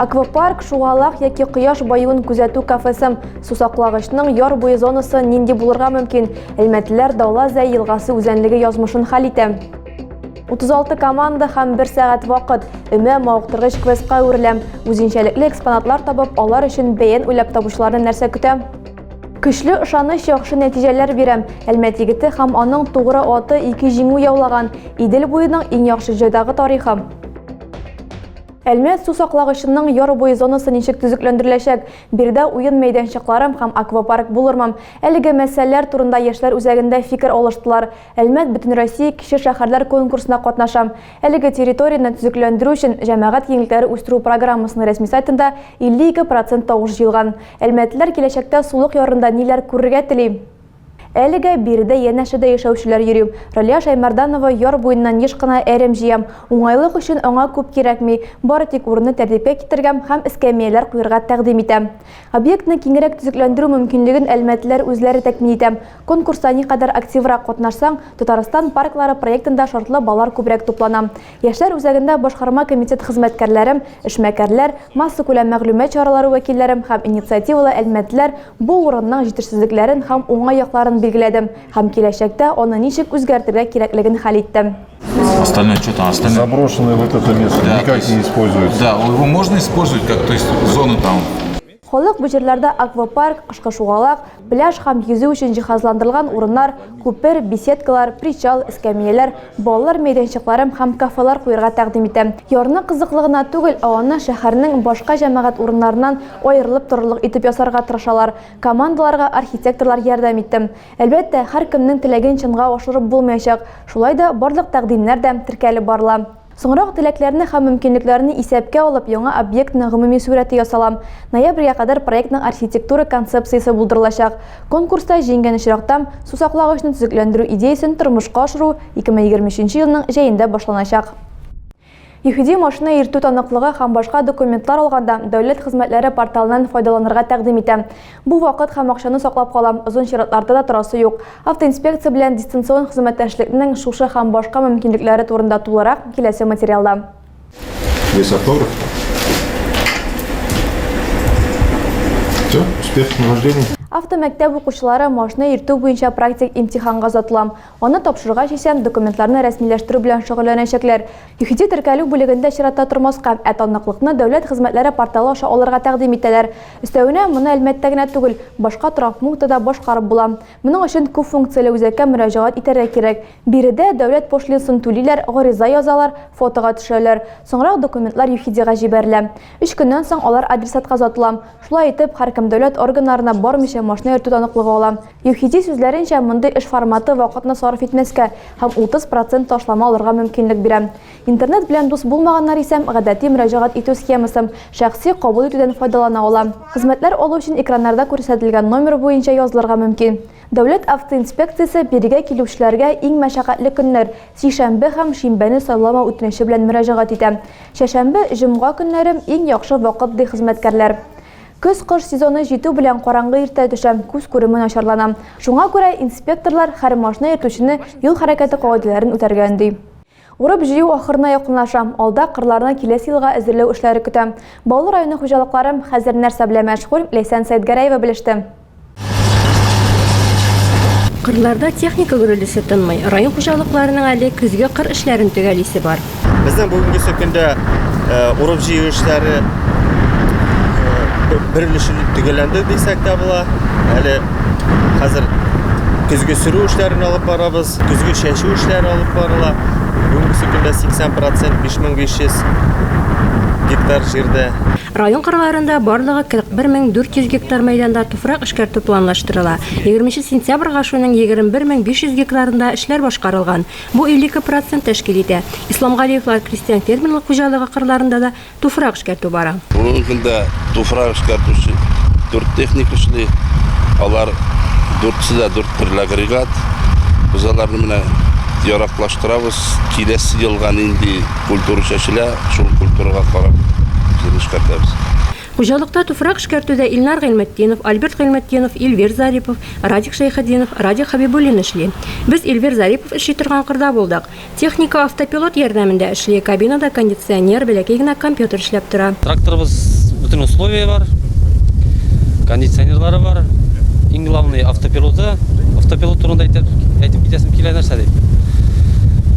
Аквапарк, шугалак яки кояш баюын күзәтү кафесы. Сусаклагычның яр буе зонасы нинди булырга мөмкин? Әлмәтлеләр Даула Зәй елгасы үзәнлеге язмышын хәл итә. 36 команда һәм 1 сәгать вакыт өмә мавыктыргыч квестка әверелә. Үзенчәлекле экспонатлар табып, алар өчен бәен уйлап табучыларны нәрсә көтә? Көчле ышаныч яхшы нәтиҗәләр бирә. Әлмәт егете һәм аның тугры аты ике җиңү яулаган. Идел буеның иң яхшы җайдагы тарихы. Әлмәт су саклагычының яр буе зонасы ничек төзекләндереләчәк? Бирдә уен мәйданчыклары һәм аквапарк булырмы? Әлеге мәсьәләләр турында яшьләр үзәгендә фикер алыштылар. Әлмәт Бөтенроссия кече шәһәрләр конкурсына катнаша. Әлеге территорияне төзекләндерү өчен җәмәгать киңлекләре үстерү программасының рәсми сайтында 52 процент тавыш җыелган. Әлмәтлеләр киләчәктә сулык ярында ниләр күрергә тели? Әлегә биредә янәшәдә яшәүчеләр йөри. Ралия Шәймәрданова яр буеннан еш кына әрем җыям. Уңайлык өчен аңа күп кирәкми, бары тик урынны тәртипкә китергәм һәм эскәмияләр куерга тәкъдим итәм. Объектны киңрәк төзекләндерү мөмкинлеген әлмәтлеләр үзләре тәкъмин итә. Конкурста никадәр активрак катнашсаң, Татарстан парклары проектында шартлы баллар күбрәк туплана. Яшьләр үзәгендә башкарма комитет хезмәткәрләрем, эшмәкәрләр, массакүләм мәгълүмат чаралары вәкилләрем һәм инициативалы әлмәтләр бу урынның җитешсезлекләрен һәм уңай якларын билгеләде һәм киләчәктә аны ничек үзгәртергә кирәклеген хәл итте. Остальное что там? Остальное... Заброшенное вот это место да, никак есть, не используется. Да, его можно использовать как, то есть зоны там Халык бу җирләрдә аквапарк, кышкы шугалак, пляж һәм йөзү өчен җиһазландырылган урыннар, күпер, беседкалар, причал, эскәмияләр, балалар мәйданчыклары һәм кафелар куярга тәкъдим итә. Ярны кызыклы гына түгел, ә аны шәһәрнең башка җәмәгать урыннарыннан аерылып торырлык итеп ясарга тырышалар. Командаларга архитекторлар ярдәм итте. Әлбәттә, һәркемнең теләген чынга ашырып булмаячак, шулай да барлык тәкъдимнәр дә теркәлеп барыла. Соңрак теләкләрне һәм мөмкинлекләрне исәпкә алып, яңа объектның гомуми сурәте ясала. Ноябрьгә кадәр проектның архитектура концепциясе булдырылачак. Конкурста җиңгән очракта, сусаклагычны төзекләндерү идеясен тормышка ашыру 2023 елның җәендә башланачак. ЮХИДИ машина йөртү таныклыгы һәм башка документлар алганда дәүләт хезмәтләре порталыннан файдаланырга тәкъдим итә. Бу вакыт һәм акчаны саклап кала, озын чиратларда да торасы юк. Автоинспекция белән дистанцион хезмәттәшлекнең шушы һәм башка мөмкинлекләре турында тулырак, киләсе материалда. Весоторовка. Все, успех с днем рождения. Автомәктәп укучылары машина йөртү буенча практик имтиханга озатыла. Аны тапшыргач исә, документларны рәсмиләштерү белән шөгыльләнәчәкләр. ЮХИДИ теркәлү бүлегендә чиратта тормаска, ә таныклыкны Дәүләт хезмәтләре порталы аша алырга тәкъдим итәләр. Өстәвенә, моны Әлмәттә генә түгел, башка торак пунктта да башкарып була. Моның өчен күп функцияле үзәккә мөрәҗәгать итәргә кирәк. Биредә дәүләт пошлинасын түлиләр, гариза язалар, фотога төшерәләр. Соңрак документлар ЮХИДИга җибәрелә. Өч көннән соң алар адресатка озатыла. Шулай итеп, һәркем дәүләт органнарына бармыйча машина йөртү таныклыгы ала. ЮХИДИ сүзләренчә, мондый эш форматы вакытны сарыф итмәскә һәм 30 процент ташлама алырга мөмкинлек бирә. Интернет белән дус булмаганнар исә гадәти мөрәҗәгать итү схемасы, шәхси кабул итүдән файдалана ала. Хезмәтләр алу өчен экраннарда күрсәтелгән номер буенча язылырга мөмкин. Дәүләт автоинспекциясе бирегә килүчеләргә иң мәшәкатьле көннәр, сишәмбе һәм шимбәне сайламау үтенече белән мөрәҗәгать итә. Чәшәмбе, җомга көннәре, иң яхшы вакыт, ди хезмәткәрләр. Көз-кыш сезоны җитү белән караңгы иртә төшә, күз күреме начарлана. Шуңа күрә инспекторлар һәр машина йөртүчене юл хәрәкәте кагыйдәләрен үтәргә өнди. Урып-җыю ахырына якынлаша. Алда кырларны киләсе елга әзерләү эшләре көтә. Баулы районы хуҗалыклары хәзер нәрсә белән мәшгуль, Ләйсән Сәетгәрәева белеште. Кырларда техника гөрелдәсе тынмый. Район хуҗалыкларының әле көзге кыр эшләрен төгәлисе бар. Безнең бүгенгесе көндә урып-җыю эшләре бер өлеше төгәлләнде дисәк тә була. Әле хәзер көзге сөрү эшләрен алып барабыз. Көзге чәчү эшләре алып барыла. Бүгенгесе көндә 80 процент, 5500 гектар җирдә. Район кырларында барлыгы 41400 гектар мәйданда туфрак эшкәртү планлаштырыла. Егерменче сентябрьгә шуның 21500 гектарында эшләр башкарылган. Бу 52 процент тәшкил итә. Исламгалиевлар крестьян-фермерлык хуҗалыгы кырларында да туфрак эшкәртү бара. Бүгенге көндә туфрак эшкәртүче дүрт техник эшли. Алар дүртсе дә дүрт төрле агрегат. Без аларны менә яраклаштырабыз. Киләсе елга нинди культура чәчелә, шул культурага карап җир эшкәртәбез. Хуҗалыкта туфрак эшкәртүдә Илнар Гыйльметдинов, Альберт Гыйльметдинов, Эльвир Зарипов, Радик Шәйхетдинов, Радик Хәбибуллин эшли. Без Эльвир Зарипов эшли торган кырда булдык. Техника автопилот ярдәмендә эшли, кабинада кондиционер, бәләкәй генә компьютер эшләп тора. Тракторыбыз бөтен условие бар, кондиционерлары бар. Иң главный автопилоты. Автопилот турында әйтеп китәсем килә, нәрсә дип.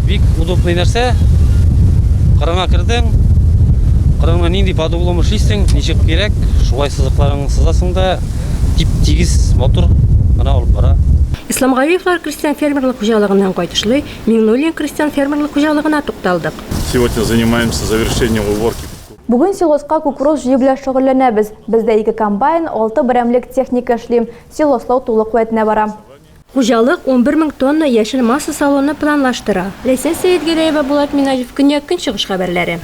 Бик удобный нәрсә. Кырыңа кердең, кырыңны нинди под углом эшлисең, ничек кирәк, шулай сызыкларыңны сызасың да, тип-тигез, матур гына алып бара. Исламгалиевлар крестьян-фермерлык хуҗалыгыннан кайтышлый, Миңнуллин крестьян фермерлык хуҗалыгына тукталдык. Сегодня занимаемся завершением уборки. Бүген силоска кукуруз җыю белән шөгыльләнәбез. Бездә ике комбайн, алты берәмлек техника эшли. Силослау тулы куәтенә бара. Хуҗалык унбер мең тонна яшел масса салуны планлаштыра. Ләйсән Сәетгәрәева, Булат Минаҗев, Көньяк-Көнчыгыш хәбәрләре.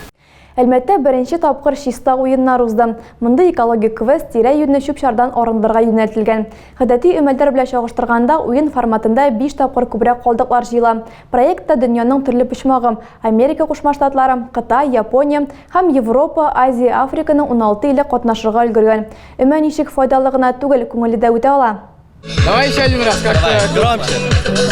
Әлмәттә беренче тапкыр Чиста уеннар узды. Мондый экологик квест тирә-юньне чүп-чардан арындырырга юнәлтелгән. Гадәти өмәлдәр белән чагыштырганда, уен форматында биш тапкыр күбрәк калдыклар җыела. Проектта дөньяның төрле почмагы, Америка Кушма Штатлары, Кытай, Япония, һәм Европа, Азия, Африканың уналты иле катнашырга өлгергән. Өмә ничек файдалы гына түгел, күңелле дә үтә ала. Давай еще один раз, как Давай, громче.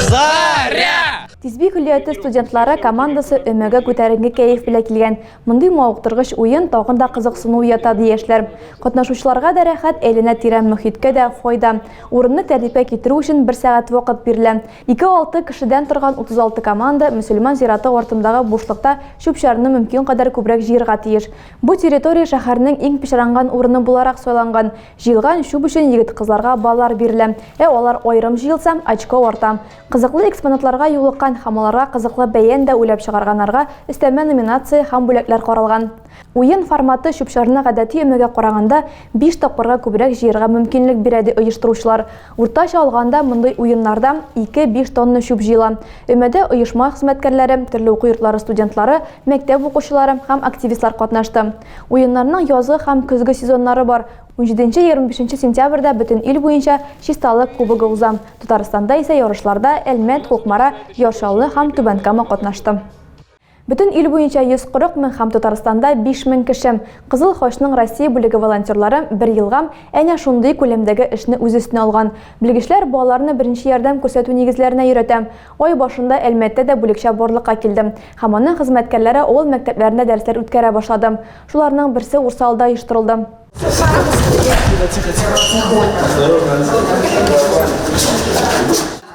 Заря! Тизби көллияте студентлары командасы өмәгә күтәренге кәйф белән килгән. Мондый мавыктыргыч уен тагын да кызыксыну уята ди яшьләр. Катнашучыларга да рәхәт, әйләнә тирән мөхиткә дә файда. Урынны тәртипкә китерү өчен бер сәгать вакыт бирелә. 2-6 кешедән торган 36 команда мөселман зираты артындагы бушлыкта чүп-чарны мөмкин кадәр күбрәк җыерга тиеш. Бу территория шәһәрнең иң пычранган урыны буларак сайланган. Җыелган чүп өчен егет-кызларга баллар бирелә, ә алар аерым җыелса, очко арта. Кызыклы экспонатларга юлыккан һәм аларга кызыклы бәян дә уйлап чыгарганнарга өстәмә номинация һәм бүләкләр каралган. Уен форматы чүп-чарны гадәти өмәгә караганда биш тапкырга күбрәк җыярга мөмкинлек бирә, ди оештыручылар. Уртача алганда мондый уеннарда ике-биш тонна чүп җыела. Өмәдә оешма хезмәткәрләре, төрле уку йортлары студентлары, мәктәп укучылары һәм активистлар катнашты. Уеннарның язгы һәм көзге сезоннары бар. Унҗиденче-егерме бишенче сентябрьдә бөтен ил буенча Чисталык кубогы уза. Татарстанда исә ярышларда Әлмәт, Кукмара, Яр Чаллы һәм Түбән Кама катнашты. Бөтен ил буенча 140 мең һәм Татарстанда 5 мең кеше. Кызыл Хачның Россия бүлеге волонтерлары бер елга әнә шундый күләмдәге эшне үз өстенә алган. Белгечләр балаларны беренче ярдәм күрсәтү нигезләренә өйрәтә. Ай башында Әлмәттә дә бүлекчә барлыкка килде һәм аның хезмәткәрләре авыл мәктәпләрендә дәресләр үткәрә башлады. Шуларның берсе Урсалда оештырылды.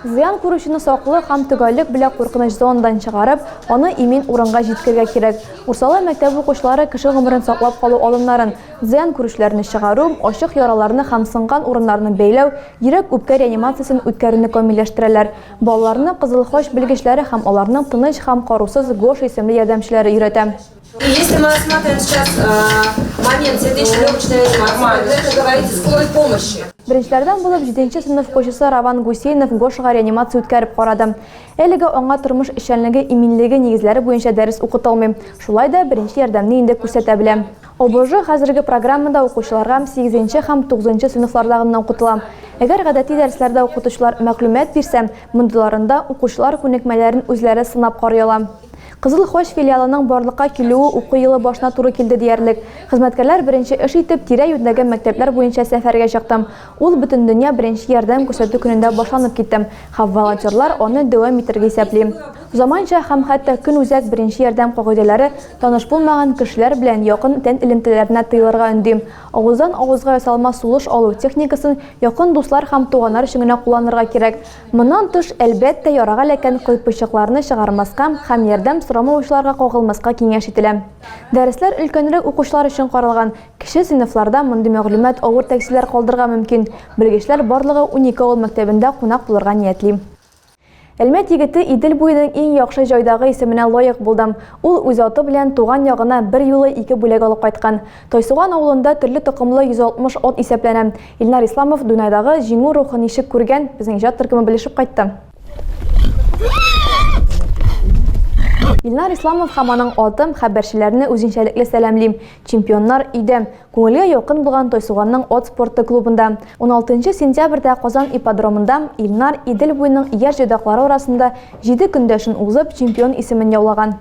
Зыян күрүчене саклы һәм төгәллек белән куркыныч зонадан чыгарып, аны имин урынга җиткергә кирәк. Урсала мәктәбе укучылары кеше гомерен саклап калу алымнарын, зыян күрүчеләрне чыгару, ачык яраларны һәм сынган урыннарны бәйләү, йөрәк-үпкә реанимациясен үткәрүне камилләштерәләр. Балаларны Кызыл Хач белгечләре һәм аларның тыныч һәм карусыз Гоша исемле ярдәмчеләре өйрәтә. Если мы рассматриваем сейчас э, момент сердечно-легочной реанимации, вы это говорите скорой помощи. Беренчеләрдән булып 7 сыйныф кочысы Раван Гусейнов Гошга реанимация үткәреп карады. Әлеге аңа тормыш эшчәнлеге иминлеге нигезләре буенча дәрес укытылмый. Шулай да беренче ярдәмне инде күрсәтә белә. ОБЖ хәзерге программада укучыларга 8 һәм 9 сыйныфлардагы гына укытыла. Әгәр гадәти дәресләрдә укытучылар мәгълүмат бирсә, мондыйларында укучылар күнекмәләрен үзләре сынап карый ала. Кызыл Хач филиалының барлыкка килүе уку елы башына туры килде диярлек. Хезмәткәрләр беренче эш итеп тирә-юньдәге мәктәпләр буенча сәфәргә чыктым. Ул Бөтендөнья беренче ярдәм күрсәтү көнендә башланып китте, һәм волонтерлар аны дәвам итәргә исәпли. Заманча һәм хәтта көнүзәк беренче ярдәм кагыйдәләре таныш булмаган кешеләр белән якын тән элемтәләренә тыелырга өнди. Авыздан авызга ясалма сулыш алу техникасын якын дуслар һәм туганнар өчен генә кулланырга кирәк. Моннан тыш, әлбәттә, ярага эләккән кыйпылчыкларны чыгармаска һәм ярдәм сорамавычыларга кагылмаска киңәш ителә. Дәресләр өлкәнрәк укучылар өчен каралган, кече сыйныфларда мондый мәгълүмат авыр тәэсирләр калдырырга мөмкин, белгечләр барлыгы унике авыл мәктәбендә кунак булырга ниятли. Әлмәт егете Идел буеның иң яхшы җайдагы исеменә лаек булды. Ул үз аты белән туган ягына берьюлы ике бүләк алып кайткан. Тайсуган авылында төрле токымлы 160 от исәпләнә. Илнар Исламов Дунайдагы Җиңү рухы ничек күргән, безнең иҗат төркеме белешеп кайтты. Илнар Исламов һәм аның атым хәбәрчеләрне үзенчәлекле сәламлим. Чемпионнар өйдә. Күңелгә якын булган Тайсуганның от спорты клубында. 16 сентябрьдә Казан ипподромында Илнар Идел буеның яшь җайдаклары арасында җиде көндәшен узып, чемпион исемен яулаган.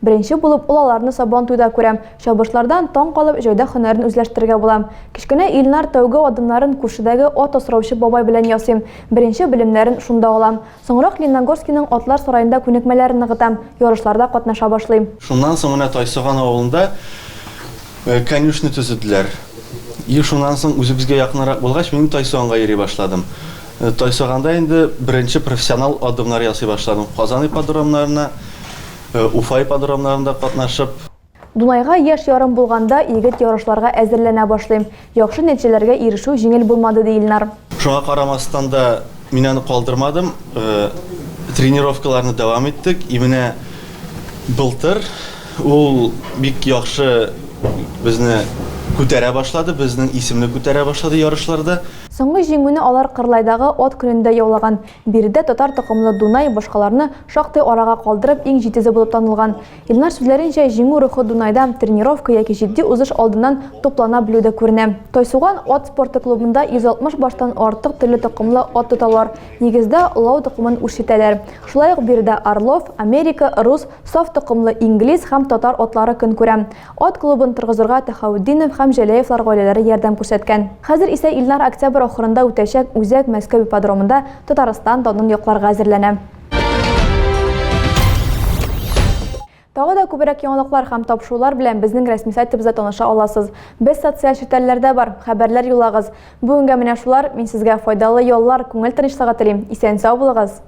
Беренче булып ул аларны Сабантуйда күрә. Чабышлардан таң калып, җәүдә һөнәрен үзләштерергә була. Кечкенә Илнар тәүге адымнарын күршедәге ат асраучы бабай белән ясый. Беренче белемнәрен шунда ала. Соңрак Ленногорскийның атлар сараенда күнекмәләрен ныгыта, ярышларда катнаша башлый. Шуннан соң менә Тайсоган авылында конюшня төзеделәр. И шуннан соң үзебезгә якынрак булгач, мин Тайсоганга йөри башладым. Тайсоганда инде беренче профессионал адымнар ясый башладым. Казан ипподромнарына. Уфа ипподромнарында катнашып. Дунайга яшь ярым булганда егет ярышларга әзерләнә башлый. Яхшы нәтиҗәләргә ирешү җиңел булмады, ди Илнар. Шуңа карамастан да, мин аны калдырмадым, тренировкаларны дәвам иттек. И менә былтыр ул бик яхшы безне күтәрә башлады, безнең исемне күтәрә башлады ярышларда. Соңгы җиңүне алар Кырлайдагы Ат көнендә яулаган. Биредә татар токымлы Дунай башкаларны шактый арага калдырып иң җитезе булып танылган. Илнар сүзләренчә, җиңү рухы Дунайда тренировка яки җитди узыш алдыннан туплана белүдә күренә. Тайсуган ат спорты клубында 160 баштан артык төрле токымлы ат тоталар, нигездә, лау токымын үрчетәләр. Шулай ук биредә Орлов, Америка, Рус, Саф токымлы Инглиз һәм Татар атлары көн күрә. Ат клубын торгызырга Төхәүтдинов һәм Җәләевлар гаиләләре ярдәм күрсәткән. Хәзер исә Илнар октябрь ахырында үтәчәк үзәк Мәскәү ипподромында Татарстан данын якларга әзерләнә. Тагы да күбрәк яңалыклар һәм тапшырулар белән безнең рәсми сайтыбызда таныша аласыз. Без социаль челтәрләрдә бар, хәбәрләр юллагыз. Бүгенгә менә шулар, мин сезгә файдалы яллар, күңел тынычлыгы телим. Исән-сау булыгыз!